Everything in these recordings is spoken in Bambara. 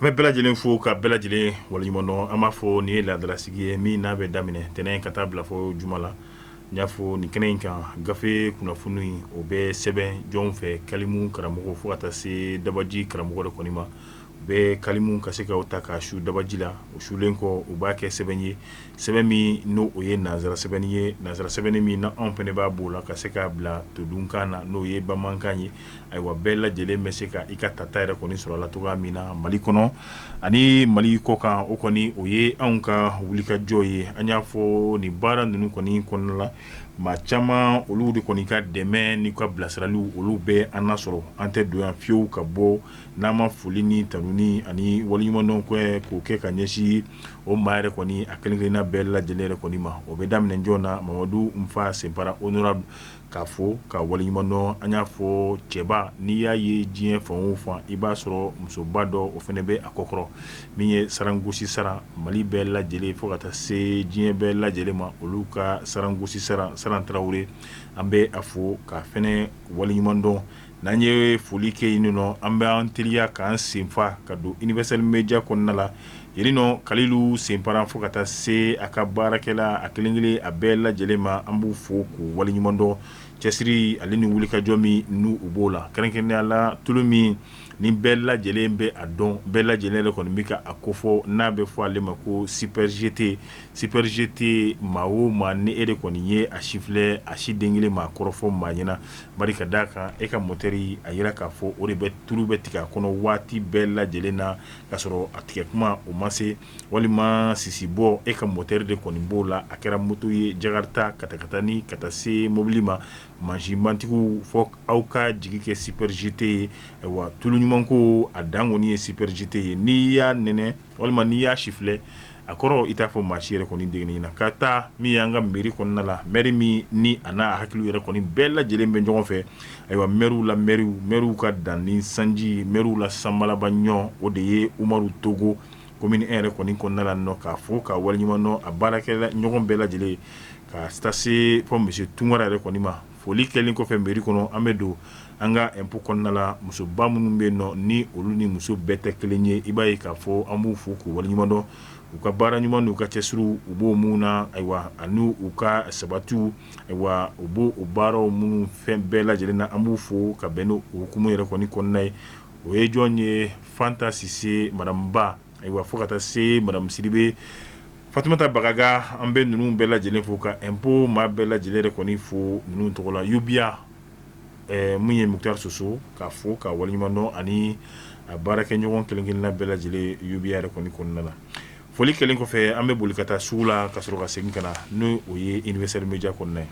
An bɛ bɛɛ lajɛlen fo ka bɛɛ lajɛlen waleɲumandɔn an b'a fɔ nin ye ladalasigi ye min n'a bɛ daminɛ ntɛnɛn ka taa bila fɔ juma la n y'a fɔ nin kɛnɛ in kan gafe kunnafoni in o bɛ sɛbɛn jɔn fɛ kalimu karamɔgɔ fo ka taa se dabaji karamɔgɔ de kɔni ma u bɛ kalimu ka se k'a ta k'a su dabaji la u sulen kɔ u b'a kɛ sɛbɛn ye sɛbɛn min n'o o ye nansara sɛbɛnni ye nansara sɛbɛnni min na anw fɛnɛ b'a b'o la ka se k'a bila todunkan na n'o ye bamanankan ye ayiwa bɛɛ lajɛlen bɛ se ka i ka tata yɛrɛ kɔni sɔrɔ la cogoya min na mali kɔnɔ ani mali kɔ kan o kɔni o ye anw ka wulikajɔ ye an y'a fɔ nin baara ninnu kɔni kɔnɔna la maa caman olu de kɔni ka dɛmɛ ni ka bilasiraliw olu bɛ an nasɔrɔ an tɛ don yan fiyewu ka bɔ n'an ma foli ni tanuni ani waliɲumandɔn k'o kɛ ka ɲɛsin o maa yɛrɛ kɔni a kelen-kelenna bɛɛ lajɛlen yɛrɛ kɔni ma o bɛ daminɛ jɔn na mamadu nfa senpara honorable k'a fo k'a waleɲuman dɔn an y'a fɔ cɛba n'i y'a ye diɲɛ fan o fan i b'a sɔrɔ musoba dɔ o fɛnɛ bɛ a kɔkɔrɔ min ye sarangosi saran mali bɛɛ lajɛlen fo ka taa se diɲɛ bɛɛ lajɛlen ma olu ka sarangosi saran saran tarawele an bɛ a fo k'a fɛnɛ waleɲuman dɔn N'an ye foli kɛ yen nɔ an bɛ an teliya k'an senfa ka don Universal media kɔnɔna la yen ni nɔ Kalilu Senpara fo ka taa se a ka baarakɛla a kelen kelen a bɛɛ lajɛlen ma an b'u fo k'u waleɲuman dɔn cɛsiri ale ni wulikajɔ min n'u u b'o la kɛrɛnkɛrɛnnenya la tulu min ni bɛɛ lajɛlen bɛ a dɔn bɛɛ lajɛlen de kɔni bɛ ka a kofɔ n'a bɛ fɔ ale ma ko super GT, super GT maa o maa ni e de kɔni ye a sifilɛ a si den kelen maa kɔrɔfɔ maa ɲɛna ka d'a kan e ka motɛri a yira k'a fɔ o de bɛ tulu bɛ tigɛ a kɔnɔ waati bɛɛ lajɛlen na k'a sɔrɔ a tigɛ kuma o ma se walima sisi bɔ e ka motɛri de kɔni b'o la a kɛra moto ye jakarita katakatani ka taa se mobili ma mansinbatigiw fɔ aw ka jigi kɛ super GT ye wa tulu ɲuman ko a dan kɔni ye super GT ye n'i y'a n walima n'i y'a sifilɛ a kɔrɔ i t'a fɔ maa si yɛrɛ kɔni de kɔni ɲɛna ka taa min y'an ka mairie kɔnɔna la mɛri min ni a n'a hakili yɛrɛ kɔni bɛɛ lajɛlen bɛ ɲɔgɔn fɛ ayiwa mɛriw la mɛriw mɛriw ka danni sanji mɛriw la sanbalaba ɲɔgɔn o de ye umaru togo commune un yɛrɛ kɔni kɔnɔna la nɔ k'a fo k'a waleɲumandɔn a baarakɛ ɲɔgɔn bɛɛ lajɛlen ka taa se fɔ monsieur tunkara yɛrɛ kɔni ma Foli kɛlen kɔfɛ mairie kɔnɔ an bɛ don an ka impôt kɔnɔna la musoba minnu bɛ yen nɔ ni olu ni muso bɛɛ tɛ kelen ye i b'a ye k'a fɔ an b'u fo k'u waleɲumandɔn u ka baara ɲuman n'u ka cɛsiriw u b'o minnu na ayiwa ani u ka sabatiw ayiwa u b'o o baaraw minnu fɛn bɛɛ lajɛlen na an b'u fo ka bɛn n'o hukumu yɛrɛ kɔni kɔnɔna ye o ye jɔn ye Fanta Sise madame Ba Ayiwa fo ka taa se madamu Sidibe Fatumata Bagaga an bɛ ninnu bɛɛ lajɛlen fo ka impôt maa bɛɛ lajɛlen yɛrɛ kɔni fo ninnu tɔgɔ la ubiya min ye Muktar Soso k'a fo k'a waleɲumandɔn ani a baarakɛɲɔgɔn kelen-kelenna bɛɛ lajɛlen ubiya yɛrɛ kɔni kɔnɔna na foli kɛlen kɔfɛ an bɛ boli ka taa sugu la ka sɔrɔ ka segin ka na ni o ye universel media kɔnɔna ye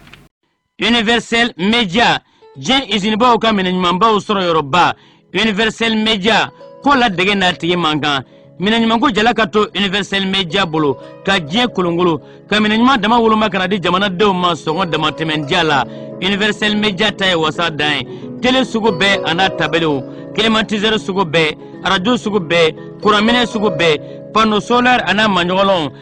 universel media diɲɛ izinibaw ka minɛ ɲumanbaw sɔrɔ yɔrɔba universel media ko ladege n'a tigi man kan minɛ ɲumanko jala ka to universel media bolo ka diɲɛ kolonkolon ka minɛ ɲuman dama woloma ka na di jamanadenw ma sɔngɔ damatɛmɛn diya la universel media ta ye wasa dan ye tele sugu bɛɛ a n'a tabelew klimatisɛri sugu bɛɛ arajo sugu bɛɛ kuranminɛ sugu bɛɛ pano solɛri a n'a maɲɔgɔnlɔnw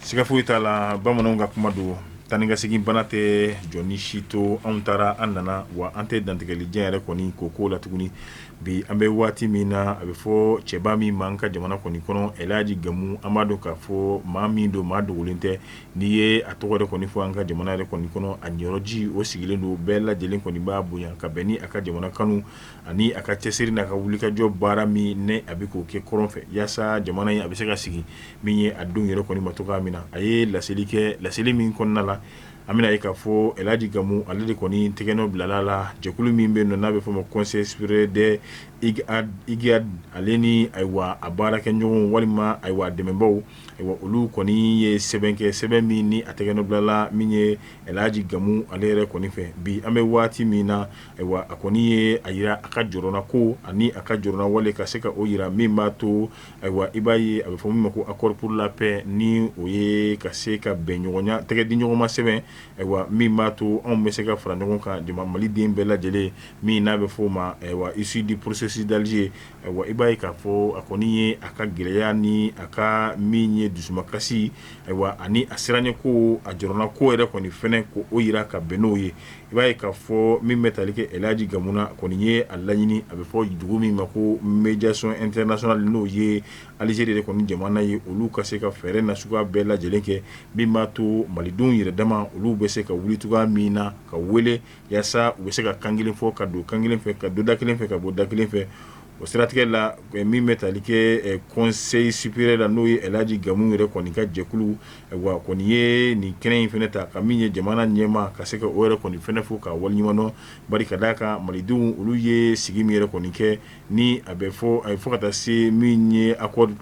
Siga foyi t'a la bamananw ka kuma don taa ni ka segin bana tɛ jɔn ni si to anw taara an nana wa an tɛ dantigɛli jan yɛrɛ kɔni k'o ko la tuguni bi an bɛ waati min na a bɛ fɔ cɛba min ma an ka jamana kɔni kɔnɔ El Hadji Gamu an b'a dɔn k'a fɔ maa min don maa dogolen tɛ n'i ye a tɔgɔ yɛrɛ kɔni fɔ an ka jamana yɛrɛ kɔni kɔnɔ a yɔrɔji o sigilen don bɛɛ lajɛlen kɔni b'a bonya ka bɛn ni a ka jamana kanu ani a ka cɛsiri n'a ka wulikajɔ baara min ni a bɛ k'o kɛ kɔrɔn fɛ yaasa jamana in a bɛ se ka sigi min ye a denw yɛrɛ kɔni ma cogoya min na a ye laseli kɛ laseli min kɔnɔna la an bɛna ye k'a fɔ El Hadji Gamu ale de kɔni tɛgɛnɔ bilala la jɛkulu min bɛ yen n'a bɛ fɔ o ma Conseil supérieur des Imghad ale ni ayiwa a baarakɛɲɔgɔn walima ayiwa dɛmɛbaw ayiwa olu kɔni ye sɛbɛn kɛ sɛbɛn min ni a tɛgɛnɔ bilala min ye El Hadji Gamu ale yɛrɛ kɔni fɛ bi an bɛ waati min na Ayiwa a kɔni ye a jira a ka jɔrɔnako ani a ka jɔrɔna wale ka se ka o jira min b'a to ayiwa i b'a ye a bɛ fɔ min ma ko accord pour la paix ni o ye ka se ka bɛnɲɔgɔnya tɛgɛ di ɲɔgɔnma sɛbɛn ayiwa min b'a to anw bɛ se ka fara ɲɔgɔn kan jama maliden bɛɛ lajɛlen min n'a bɛ fɔ o ma ayiwa issu du processus d'Alger ayiwa i b'a ye k'a fɔ a kɔni ye a ka gɛlɛya ni a ka min ye dusumakasi ayiwa ani a siranɲɛko a jɔrɔnako yɛrɛ kɔni fana ko o jira ka bɛn n'o ye i b'a ye k'a fɔ min bɛ tali kɛ El Hadji Gamu na a kɔni ye a laɲini a bɛ fɔ dugu min ma ko médiation internationale n'o ye Algérie yɛrɛ kɔni jamana ye olu ka se ka fɛɛrɛ nasuguya bɛɛ lajɛlen kɛ min b'a to malidenw yɛrɛ dama olu bɛ se ka wuli cogoya min na ka wele yaasa u bɛ se ka kan kelen fɔ ka don kan kelen fɛ ka don da kelen fɛ ka bɔ da kelen fɛ o siratigɛ la min bɛ tali kɛ Conseil supérieur la n'o ye El Hadji Gamu yɛrɛ kɔni ka jɛkulu ayiwa kɔni ye nin kɛnɛ in fana ta ka min ye jamana ɲɛmaa ka se ka o yɛrɛ kɔni fana fo k'a waleɲumandɔn bari ka d'a kan malidenw olu ye sigi min yɛrɛ kɔni kɛ ni a bɛ fɔ ayiwa fo ka taa se min ye accord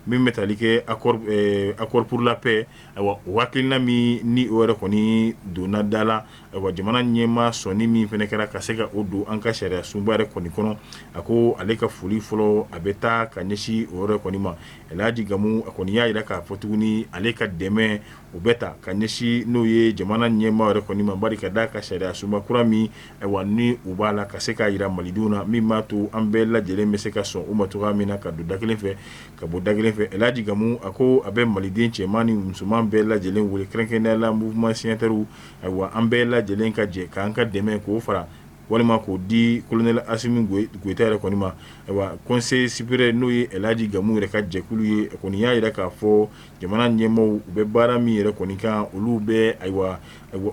min bɛ tali kɛ accord pour la paix ayiwa o hakilina min ni o yɛrɛ kɔni donna da la wa jamana ɲɛmaa sɔnni min fana kɛra ka se ka o don an ka sariya sunba yɛrɛ kɔni kɔnɔ a ko ale ka foli fɔlɔ a bɛ taa ka ɲɛsin o yɔrɔ kɔni ma alaaji Gamu a kɔni y'a jira k'a fɔ tuguni ale ka dɛmɛ o bɛ taa ka ɲɛsin n'o ye jamana ɲɛmaa yɛrɛ kɔni ma bari ka da a ka sariya sunba kura min ayiwa ni u b'a la ka se k'a jira malidenw na min b'a to an bɛɛ lajɛlen bɛ se ka sɔn o ma cogoya min na ka don da kelen fɛ ka bɔ da kelen fɛ alaaji Gamu a ko a bɛ maliden cɛman ni musoman bɛɛ lajɛlen weele kɛrɛnkɛrɛnnenya la mouvement signataires ayiwa an bɛɛ lajɛlen ka jɛ k'an ka dɛmɛ k'o fara walima k'o di kolonɛli Asimi Goyita yɛrɛ kɔni ma ayiwa Conseil supérieur n'o ye alaaji Gamu yɛrɛ ka jɛkulu ye kɔni y'a jira k'a fɔ jamana ɲɛmaaw u bɛ baara min yɛrɛ kɔni kan olu bɛ ayiwa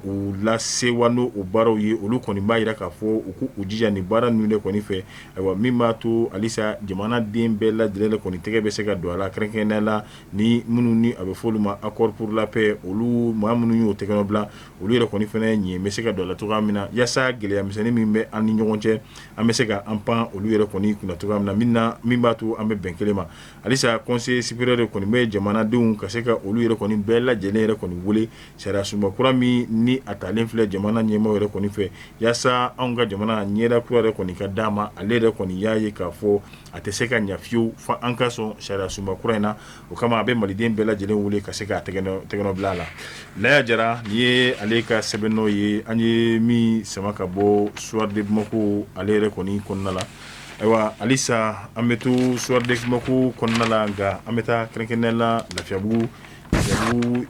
u lasewa n'o baaraw ye olu kɔni b'a jira k'a fɔ u ko u jija ni baara ninnu de kɔni fɛ ayiwa min b'a to halisa jamanaden bɛɛ lajɛlen kɔni tɛgɛ bɛ se ka don a la kɛrɛnkɛrɛnnenya la ni minnu ni a bɛ fɔ olu ma accord pour la paix olu maa minnu y'o tɛgɛnɔ bila olu yɛrɛ kɔni fana ɲɛ bɛ se ka don a la cogoya min na yaasa gɛlɛya misɛnnin min bɛ an ni ɲɔgɔn cɛ an bɛ se ka an pan olu yɛrɛ kɔni kunna cogoya min na min b'a to an bɛ bɛn kelen ma halisa Conseil supérieur de kɔni bɛ jamanadenw ka se ka olu yɛrɛ kɔni bɛɛ lajɛlen yɛrɛ kɔni weele sariya sunba kura min ni a talen filɛ jamana ɲɛmaa yɛrɛ kɔni fɛ yaasa anw ka jamana ɲɛda kura yɛrɛ kɔni ka d'an ma ale yɛrɛ kɔni y'a ye k'a fɔ A tɛ se ka ɲɛ fewu fo an ka sɔn sariya sunba kura in na o kama a bɛ maliden bɛɛ lajɛlen wele ka se k'u tɛgɛnɔ bila a la Laya Jara nin ye ale ka sɛbɛnnɔ ye an ye min sama ka bɔ Soir de Bamako ale yɛrɛ kɔni kɔnɔna la ayiwa halisa an bɛ to Soir de Bamako kɔnɔna la nka an bɛ taa kɛrɛnkɛrɛnnenya la lafiyabugu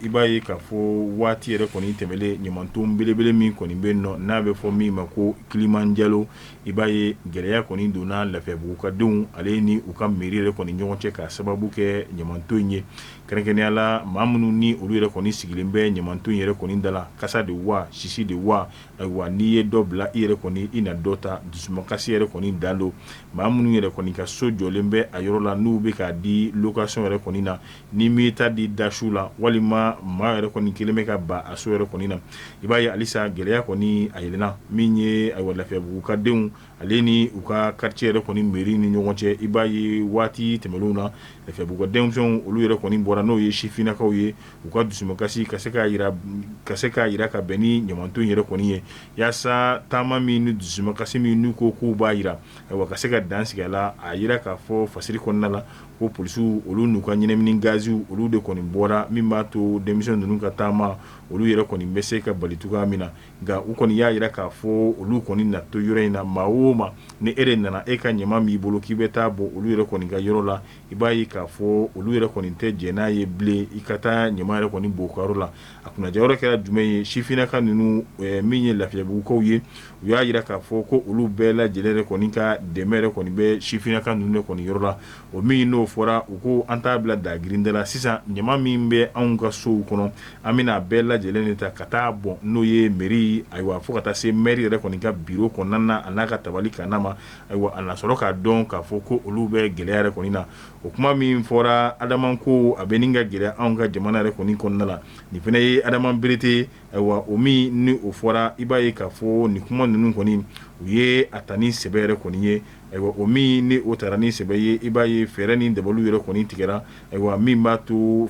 i b'a ye k'a fɔ waati yɛrɛ kɔni tɛmɛlen ɲamanton belebele min kɔni bɛ yen nɔ n'a bɛ fɔ min ma ko Kilimanjaro i b'a ye gɛlɛya kɔni donna lafiyabugu ka denw ale ni u ka mairie yɛrɛ kɔni ɲɔgɔn cɛ k'a sababu kɛ ɲamanton in ye kɛrɛnkɛrɛnnenya la maa minnu ni olu yɛrɛ kɔni sigilen bɛ ɲamanton yɛrɛ kɔni da la kasa de wa sisi de wa ayiwa n'i ye dɔ bila i yɛrɛ kɔni i na dɔ ta dusumakasi yɛrɛ kɔni dan don maa minnu yɛrɛ kɔni ka so jɔlen bɛ a yɔrɔ la n'u bɛ k'a di location yɛrɛ kɔni na Ni m'i ta di da su la walima maa yɛrɛ kɔni kelen bɛ ka ban a so yɛrɛ kɔni na i b'a ye halisa gɛlɛya kɔni a yɛlɛnna min ye ayiwa lafiyabugu ka denw ale ni u ka quartier yɛrɛ kɔni mairie ni ɲɔgɔn cɛ i b'a ye waati tɛmɛlenw na lafiyabugu denmisɛnw olu yɛrɛ kɔni bɔra n'o ye sifinnakaw ye u ka dusumakasi ka se k'a jira ka bɛn ni ɲamanton yɛrɛ kɔni ye yaasa taama min ni dusumakasi min n'u ko k'u b'a jira a ka se ka dan sigi a la a jira k'a fɔ fasiri kɔnɔna la ko polisiw olu n'u ka ɲɛnamini gaziw olu de kɔni bɔra min b'a to denmisɛn ninnu ka taama olu yɛrɛ kɔni bɛ se ka bali cogoya min na nka u kɔni y'a jira k'a fɔ olu kɔni na to yɔrɔ in na maa o maa ni e de nana e ka ɲama b'i bolo k'i bɛ taa bɔ olu yɛrɛ kɔni ka yɔrɔ la i b'a ye k'a fɔ olu yɛrɛ kɔni tɛ jɛn n'a ye bilen i ka taa ɲama yɛrɛ kɔni bɔ u ka yɔrɔ la a kunnaja yɔrɔ kɛra jumɛn ye sifinnaka ninnu min ye lafiyabugukaw ye u y'a jira k'a fɔ ko olu bɛɛ lajɛlen yɛrɛ kɔni ka dɛmɛ yɛrɛ kɔni bɛ sifinnaka ninnu kɔni yɔrɔ la o min n'o fɔra u ko an t'a bila dagirinda la sisan ɲama min bɛ anw ka sow kɔnɔ an bɛna a bɛɛ lajɛlen de ta ka taa bɔn n'o ye mɛri ayiwa fo ka taa se mɛri yɛrɛ kɔni ka biro kɔnɔna na a n'a ka tabali kanna ma ayiwa a na sɔrɔ k'a dɔn k'a fɔ ko olu bɛ gɛlɛya yɛrɛ kɔni na o kuma min fɔra adama ko a bɛ nin ka gɛlɛya anw ka jamana yɛrɛ kɔni kɔnɔna la nin fana ye adama berete ayiwa o min ni o fɔra i b'a ye k'a fɔ nin kuma ninnu kɔni u ye a ta ni sɛbɛ yɛrɛ kɔni ye ayiwa o min ni o tara ni sɛbɛ ye i b'a ye fɛɛrɛ ni dabaliw yɛrɛ kɔni tigɛra ayiwa min b'a to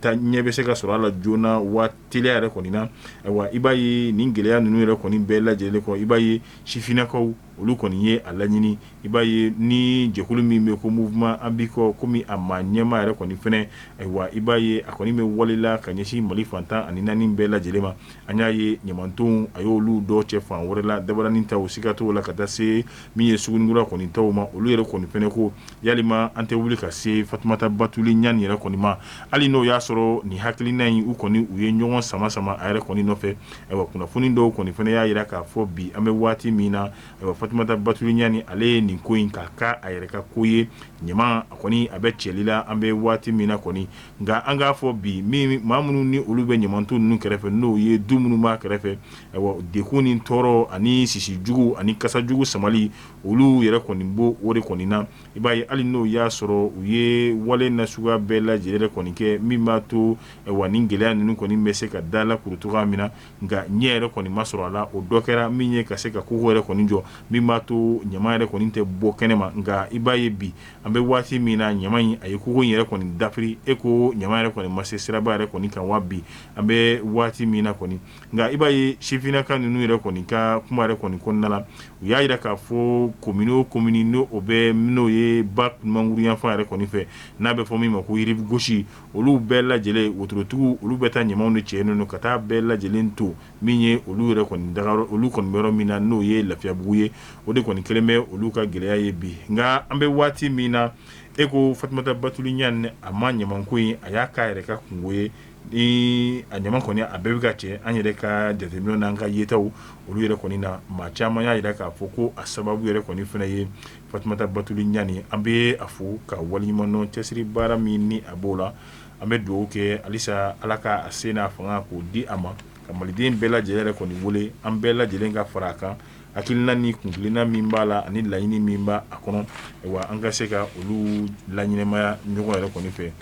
ta ɲɛ bɛ se ka sɔrɔ a la joona wa teliya yɛrɛ kɔni na ayiwa i b'a ye nin gɛlɛya ninnu yɛrɛ kɔni bɛɛ lajɛlen kɔ i b'a ye sifinnakaw olu kɔni ye a laɲini i b'a ye ni jɛkulu min bɛ ko mouvement an biko komi a maa ɲɛma yɛrɛ kɔni fana ayiwa i b'a ye a kɔni bɛ wale la ka ɲɛsin mali fan tan ani naani bɛɛ lajɛlen ma an y'a ye ɲamantonw a y'olu dɔ cɛ fan wɛrɛ la dabaranin taw siga t'o la ka taa se min ye sugunikura kɔni taw ma olu yɛrɛ kɔni fana ko yalima an tɛ wuli ka se fatumata batuli ɲani yɛrɛ kɔni ma hali n'o y'a sɔrɔ nin hakilina in u kɔni u ye ɲɔgɔn sama sama a yɛrɛ kɔni nɔfɛ Ayiwa kunnafoni dɔw kɔni fana y'a jira k'a fɔ bi an bɛ waati min na ayiwa fatumata batuli ɲani ale ye nin ko in k'a k'a yɛrɛ ka ko ye ɲama a kɔni a bɛ cɛli la an bɛ waati min na kɔni nka an k'a fɔ bi min maa minnu ni olu bɛ ɲamanton ninnu kɛrɛfɛ n'o ye du minnu b'a kɛrɛfɛ ayiwa degun ni tɔɔrɔ ani sisi jugu ani kasa jugu samali olu yɛrɛ kɔni b'o de kɔni na i b'a ye hali n'o y'a sɔrɔ u ye wale nasuguya bɛɛ lajɛlen kɔni kɛ min b'a to wa nin gɛlɛya ninnu kɔni bɛ se ka dalakuru cogoya min na nka ɲɛ yɛrɛ kɔni ma sɔrɔ a la o dɔ kɛra min ye ka se ka kogo yɛrɛ kɔni jɔ min b'a to ɲama yɛrɛ kɔni tɛ bɔ kɛnɛ ma nka i b'a ye bi an bɛ waati min na ɲama in a ye kogo yɛrɛ kɔni dafiri e ko ɲama yɛrɛ kɔni ma se siraba yɛrɛ kɔni kan wa bi an bɛ waati min na kɔni nka i b'a ye sifinnaka ninnu yɛrɛ kɔni ka kuma yɛrɛ kɔni kɔnɔna na u y'a jira k'a fɔ komini komini n'o bɛ n'o ye ba manguru yanfan yɛrɛ kɔni fɛ n'a bɛ fɔ min ma ko rive gauche olu bɛɛ lajɛlen wotorotigiw olu bɛ taa ɲamaw de cɛ ninnu ka taa bɛɛ lajɛlen to min ye olu yɛrɛ kɔni daga olu kɔni bɛ yɔrɔ min na n'o ye lafiyabugu ye o de kɔni kɛlen bɛ olu ka gɛlɛya ye bi nka an bɛ waati min na e ko fatumata batuli ɲani a ma ɲamako in a y'a k'a yɛrɛ ka kunko ye ni a ɲama kɔni a bɛɛ bɛ ka cɛ an yɛrɛ ka jateminɛ n'an ka yetaw olu yɛrɛ kɔni na maa caman y'a jira k'a fɔ ko a sababu yɛrɛ kɔni fana ye Fatumata Batuli Ɲani an bɛ a fo k'a waleɲumandɔn cɛsiri baara min ni a b'o la an bɛ duwawu kɛ halisa Ala ka a se n'a fanga k'o di a ma ka maliden bɛɛ lajɛlen yɛrɛ kɔni wele an bɛɛ lajɛlen ka far'a kan hakilina ni kuntilenna min b'a la ani laɲini min b'a a kɔnɔ ayiwa an ka se ka olu laɲɛnamaya ɲɔgɔn yɛrɛ kɔni fɛ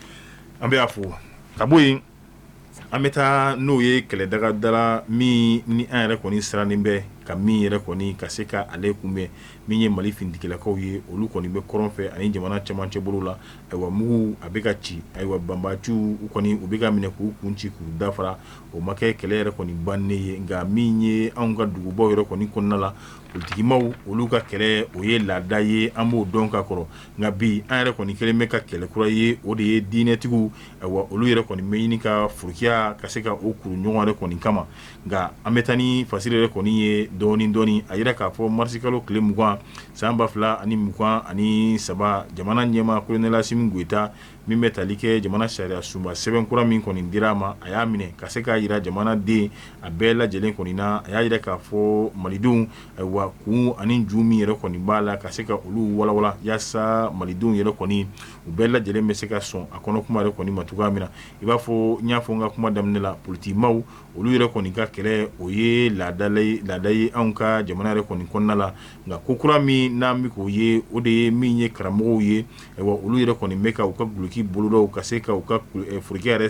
an bɛ a fo ka bo ye an bɛ taa n'o ye kɛlɛ daga da la min ni an yɛrɛ kɔni sirannen bɛ ka min yɛrɛ kɔni ka se ka ale kunbɛn min ye mali finitigilakaw ye olu kɔni bɛ kɔrɔn fɛ ani jamana cɛmancɛ bolo la ayiwa mugu a bɛ ka ci ayiwa banbaciw u kɔni u bɛ ka minɛ k'u kun ci k'u dafara o ma kɛ kɛlɛ yɛrɛ kɔni bannen ye nka min ye an ka dugubaw yɛrɛ kɔni kɔnɔna la politikimaw olu ka kɛlɛ o ye laada ye an b'o dɔn ka kɔrɔ nka bi an yɛrɛ kɔni kelen bɛ ka kɛlɛ kura ye o de ye diinɛtigiw ayiwa olu yɛrɛ kɔni bɛ ɲini ka furukiya ka se ka o kuru ɲɔgɔn yɛrɛ kɔni kama nka an bɛ taa ni fasiri yɛrɛ kɔni ye dɔɔnin dɔɔnin a jira k'a fɔ marisikalo tile mugan san ba fila ani mugan ani saba jamana ɲɛma kolonɛli asimi goyita min bɛ tali kɛ jamana sariya sunba sɛbɛn kura min kɔni dira a ma a y'a minɛ ka se k'a jira jamana den a bɛɛ lajɛlen kɔni na a y'a jira k'a fɔ malidenw ayiwa kun ani ju min yɛrɛ kɔni b'a la ka se ka olu walawala yaasa malidenw yɛrɛ kɔni u bɛɛ lajɛlen bɛ se ka sɔn a kɔnɔ kuma yɛrɛ kɔni ma cogoya min na i b'a fɔ n y'a fɔ n ka kuma daminɛ la politikimaw olu yɛrɛ kɔni ka kɛlɛ o ye laada ye anw ka jamana yɛrɛ kɔni kɔnɔna la nka ko kura min n'an bɛ k'o ye o de ye min ye karamɔgɔw ye ayiwa olu yɛrɛ kɔni bɛ ka u ka duloki bolodaw ka se ka u ka forokiya yɛrɛ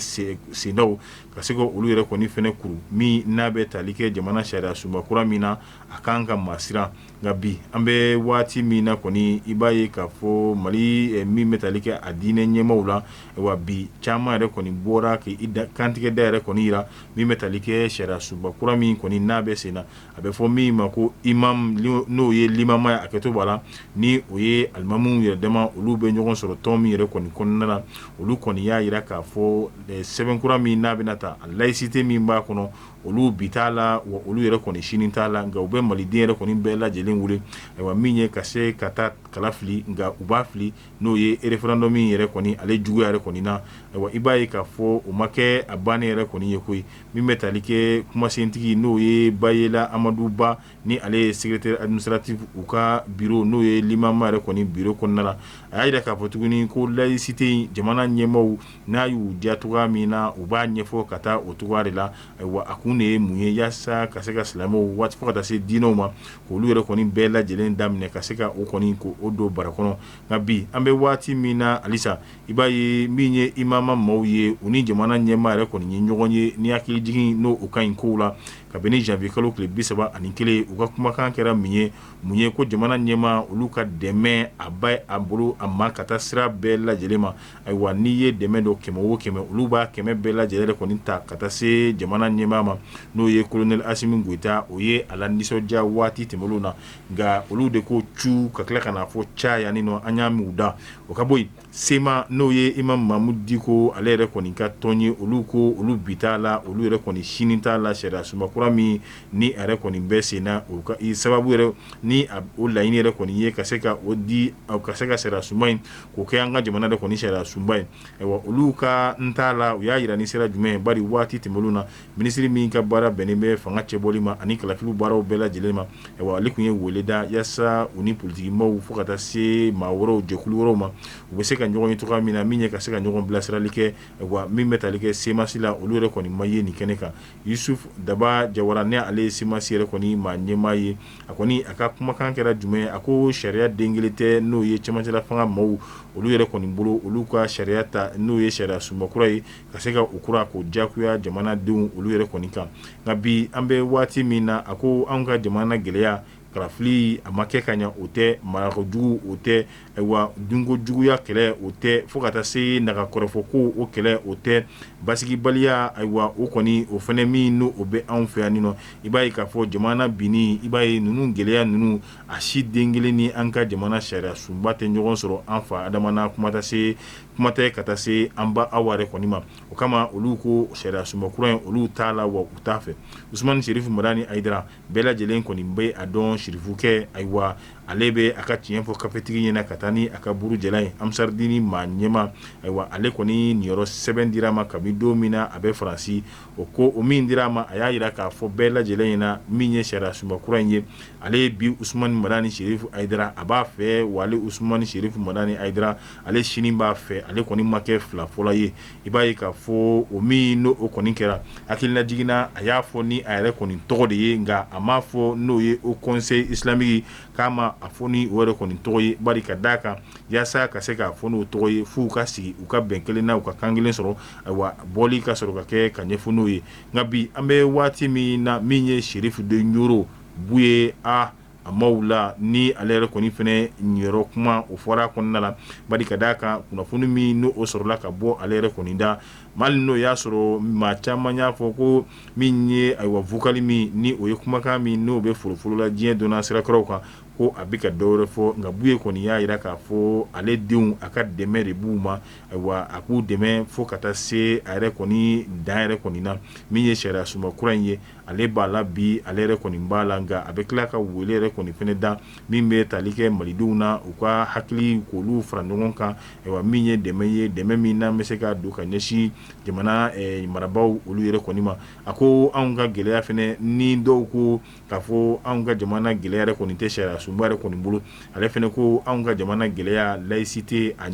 sendaw ka se ka olu yɛrɛ kɔni fana kuru min n'a bɛ tali kɛ jamana sariya sunba kura min na a ka kan ka maa siran nka bi an bɛ waati min na kɔni i b'a ye k'a fɔ mali min bɛ tali kɛ a diinɛ ɲɛmaw la wa bi caman yɛrɛ kɔni bɔra k'i kantigɛ da yɛrɛ kɔni jira min bɛ tali kɛ sariya sunba kura min kɔni n'a bɛ sen na a bɛ fɔ min ma ko imamu n'o ye limama ye a kɛtɔ b'a la ni o ye alimamiw yɛrɛ dama olu bɛ ɲɔgɔn sɔrɔ tɔn min yɛrɛ kɔni kɔnɔna na olu kɔni y'a jira k'a fɔ sɛbɛnkura min n'a bɛna ta a layisite min b'a kɔnɔ olu bi t'a la wa olu yɛrɛ kɔni sini t'a la nka u bɛ maliden yɛrɛ kɔni bɛɛ lajɛlen wele ayiwa min ye ka se ka taa kala fili nka u b'a fili n'o ye referandɔmu min yɛrɛ kɔni ale juguya yɛrɛ kɔni na ayiwa i b'a ye k'a fɔ o ma kɛ a bannen yɛrɛ kɔni ye koyi min bɛ tali kɛ kumasentigi n'o ye bayela amadu ba ni ale ye secrétaire administratif u ka biro n'o ye limama yɛrɛ kɔni biro kɔnɔna la a y'a jira k'a fɔ tuguni ko layisite in jamana ɲɛmaaw n'a y'u diya cogoya min na u b'a ɲɛfɔ ka taa o cogoya de la ayiwa a kun de ye mun ye yaasa ka se ka silamɛw waati fo ka taa se diinɛw ma k'olu yɛrɛ kɔni bɛɛ lajɛlen daminɛ ka se ka o kɔni ko o don bara kɔnɔ nka bi an bɛ waati min na halisa I b'a ye min ye imama maaw ye u ni jamana ɲɛmaa yɛrɛ kɔni ye ɲɔgɔn ye ni hakili jigin n'o ka ɲi kow la kabini janvier kalo tile bi saba ani kelen u ka kumakan kɛra min ye mun ye ko jamana ɲɛma olu ka dɛmɛ a ba a bolo a ma ka taa sira bɛɛ lajɛlen ma ayiwa n'i ye dɛmɛ don kɛmɛ o kɛmɛ olu b'a kɛmɛ bɛɛ lajɛlen yɛrɛ kɔni ta ka taa se jamana ɲɛmaa ma n'o ye kolonɛli asimi goyita o ye a la nisɔndiya waati tɛmɛnen na nka olu de ko cu ka tila ka n'a fɔ ca yanni nɔ an y'a mɛn u da o ka bɔ yen sema n'o ye imamu mamudu diko ale yɛrɛ kɔni ka tɔn ye olu ko olu bi t'a la olu yɛrɛ kɔni sini t'a la sariya sunba kura min ni yɛrɛ kɔni bɛ sen na o sababu yɛrɛ ni o laɲini yɛrɛ kɔni ye ka se ka o di ka se ka sariya sunba in k'o kɛ an ka jamana yɛrɛ kɔni sariya sunba ye olu k'an t'a la u y'a jira ni sira jumɛn ye bari waati tɛmɛnenw na minisiri min ka baara bɛnnen bɛ fanga cɛbɔli ma ani kalafili baaraw bɛɛ lajɛlen ma wa ale tun ye weele da yaasa u ni politikimaaw fo ka taa se maa wɛrɛw jɛkulu wɛrɛw ma u bɛ se ka ɲɔgɔn ye cogoya min na min ye ka se ka ɲɔgɔn bilasirali kɛ wa min bɛ tali kɛ semasi la olu yɛrɛ kɔni ma ye nin kɛnɛ kan yusufu daba jawara ni ale ye semasi yɛrɛ kɔni maa ɲɛmaa ye a kɔni a ka kumakan kɛra jumɛn a ko sariya den kelen tɛ n'o ye cɛmancɛla fanga maaw olu yɛrɛ kɔni bolo olu ka sariya ta n'o ye sariya sunba kura ye ka se ka o kura k'o jagoya jamanadenw olu yɛrɛ kɔni kan nka bi an bɛ waati min na a ko an ka jamana gɛlɛya kalafili a ma kɛ ka ɲɛ o tɛ marakojugu o tɛ ayiwa dunkojuguya kɛlɛ o tɛ fo ka taa se naga kɔrɔfɔ ko o kɛlɛ o tɛ basigibaliya ayiwa o kɔni o fana min n'o bɛ anw fɛ yan nɔ i b'a ye k'a fɔ jamana binni i b'a ye ninnu gɛlɛya ninnu a si den kelen ni an ka jamana sariya sunba tɛ ɲɔgɔn sɔrɔ an fa adama na kuma tɛ se kuma tɛ ka taa se an ba awa yɛrɛ kɔni ma o kama olu ko sariya sunba kura in olu t'a la wa u t'a fɛ usumani sirifu madani ayidara bɛɛ lajɛlen kɔni bɛ a dɔn sirifukɛ ayiwa ale bɛ a ka tiɲɛ fɔ kafetigi ɲɛna ka taa ni a ka buru jalan ye ansaridini maa ɲɛma ayiwa ale kɔni niyɔrɔ sɛbɛn dira a ma kabi don min na a bɛ faransi o ko o min dira a ma a y'a jira k'a fɔ bɛɛ lajɛlen ɲɛna min ye sariya sunba kura in ye ale bi usumani madani sirifu ayidara a b'a fɛ wa ale usumani sirifu madani ayidara ale sini b'a fɛ ale kɔni ma kɛ fila fɔla ye i b'a ye k'a fɔ o min n'o kɔni kɛra hakilinajigin na a y'a fɔ ni a yɛrɛ kɔni tɔgɔ de ye nka a m'a fɔ n'o ye o conseil islamique k'a ma a fɔ ni o yɛrɛ kɔni tɔgɔ ye bari ka d'a kan yaasa ka se k'a fɔ n'o tɔgɔ ye f'u ka sigi u ka bɛn kelen na u ka kan kelen sɔrɔ ayiwa bɔli ka sɔrɔ ka kɛ ka ɲɛfɔ n'o ye nka bi an bɛ waati min na min ye sirifu de ɲɔrɔ buye a a maaw la ni ale yɛrɛ kɔni fana niyɔrɔ kuma o fɔra kɔnɔna na bari ka d'a kan kunnafoni min n'o sɔrɔla ka bɔ ale yɛrɛ kɔni da mali n'o y'a sɔrɔ maa caman y'a fɔ ko min ye ayiwa vokali min ni o ye kumakan min n'o bɛ folofolo la diɲɛ donna sira kuraw kan ko a bɛ ka dɔ wɛrɛ fɔ nka buye kɔni y'a jira k'a fɔ ale denw a ka dɛmɛ de b'u ma ayiwa a k'u dɛmɛ fo ka taa se a yɛrɛ kɔni dan yɛrɛ kɔni na min ye sariya sunba kura in ye ale b'a la bi ale yɛrɛ kɔni b'a la nka a bɛ tila ka wele yɛrɛ kɔni fana da min bɛ tali kɛ malidenw na u ka hakili k'olu fara ɲɔgɔn kan ayiwa min ye dɛmɛ ye dɛmɛ min n'an bɛ se ka don ka ɲɛsin jamana marabaw olu yɛrɛ kɔni ma a ko anw ka gɛlɛya fana ni dɔw ko k'a fɔ anw ka jamana gɛlɛya yɛrɛ kɔni tɛ sariya sunba yɛrɛ kɔni bolo ale fana ko anw ka jamana gɛlɛya layisite a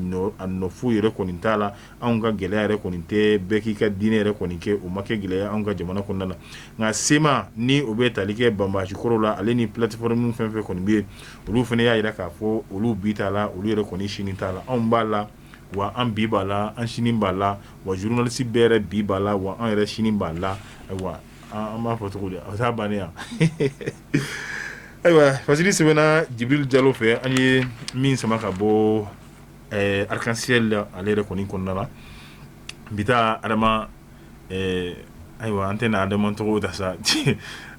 nɔfu yɛrɛ kɔni t'a la anw ka gɛlɛya yɛrɛ kɔni tɛ bɛɛ k'i ka diinɛ yɛrɛ kɔni kɛ o ma kɛ gɛlɛya anw ka jamana kɔnɔna na nka sema ni o bɛ tali kɛ banbaanci kɔrɔ la ale ni platiforome fɛn fɛn kɔni bɛ yen olu fana y'a jira k'a fɔ olu bi t'a la olu yɛrɛ kɔni sini t'a la anw b'a la wa an bi b'a la an sini b'a la wa zurunalisi bɛɛ yɛrɛ bi b'a la wa an yɛrɛ sini b'a la ayiwa an b'a fɔ cogo di a taa bannen yan ayiwa fasiri sɛbɛnna jibirili jalo fɛ an ye min sama ka bɔ ɛɛ arc-en-ciel la ale yɛrɛ kɔni kɔnɔna la bi ta Adama ɛɛ ayiwa an tɛna Adama tɔgɔ ta sa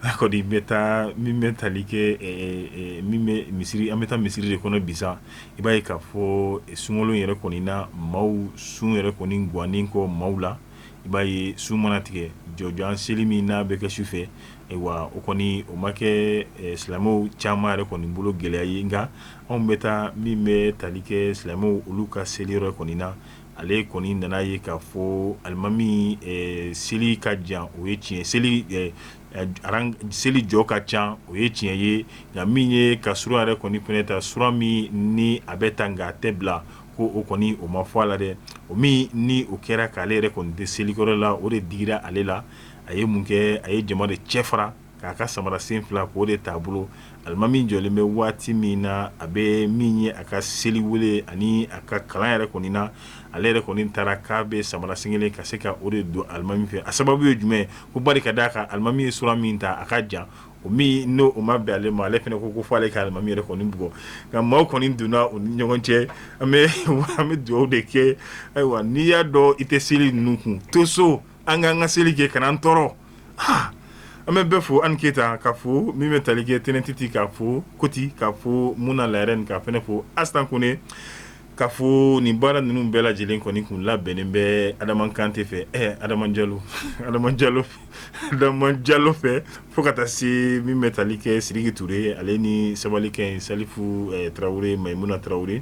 a kɔni bɛ taa min bɛ tali kɛ ɛɛ min bɛ misiri an bɛ taa misiri de kɔnɔ bi sa i b'a ye k'a fɔ sunkalo in yɛrɛ kɔni na maaw sun yɛrɛ kɔni gannen kɔ maaw la i b'a ye sun mana tigɛ jɔjan seli min n'a bɛ kɛ su fɛ ayiwa o kɔni o ma kɛ silamɛw caman yɛrɛ kɔni bolo gɛlɛya ye nka anw bɛ taa min bɛ tali kɛ silamɛw olu ka seli yɔrɔ kɔni na ale kɔni nana ye k'a fɔ alimami seli ka jan o ye tiɲɛ seli seli jɔ ka ca o ye tiɲɛ ye nka min ye ka sura yɛrɛ kɔni fana ta sura min ni a bɛ ta nka a tɛ bila ko o kɔni o ma fɔ a la dɛ o min ni o kɛra k'ale yɛrɛ kɔni tɛ selikɔrɔ la o de digira ale la a ye mun kɛ a ye jama de cɛ fara k'a ka samara sen fila k'o de t'a bolo alimami jɔlen bɛ waati min na a bɛ min ye a ka seli wele ani a ka kalan yɛrɛ kɔni na ale yɛrɛ kɔni taara k'a bɛ samara sen kelen ka se ka o de don alimami fɛ a sababu ye jumɛn ko bari ka d'a kan alimami ye sura min ta a ka jan o min n'o o ma bɛn ale ma ale fana ko fo ale ka alimami yɛrɛ kɔni bugɔ nka maaw kɔni donna u ni ɲɔgɔn cɛ an bɛ dugawu de kɛ ayiwa n'i y'a dɔn i tɛ seli ninnu kun to so An k'an ka seli kɛ kana an tɔɔrɔ an bɛ bɛɛ fo an keyita k'a fo min bɛ tali kɛ tɛnɛn titi k'a fo koti k'a fo muna larɛni k'a fana fo asitan kone k'a fo nin baara ninnu bɛɛ lajɛlen kɔni kun labɛnnen bɛ adama kante fɛ ɛ adama jalo adama jalo fɛ fo ka taa se min bɛ tali kɛ sidiki ture ale ni sabalikɛ salifu tarawele mayimuna tarawele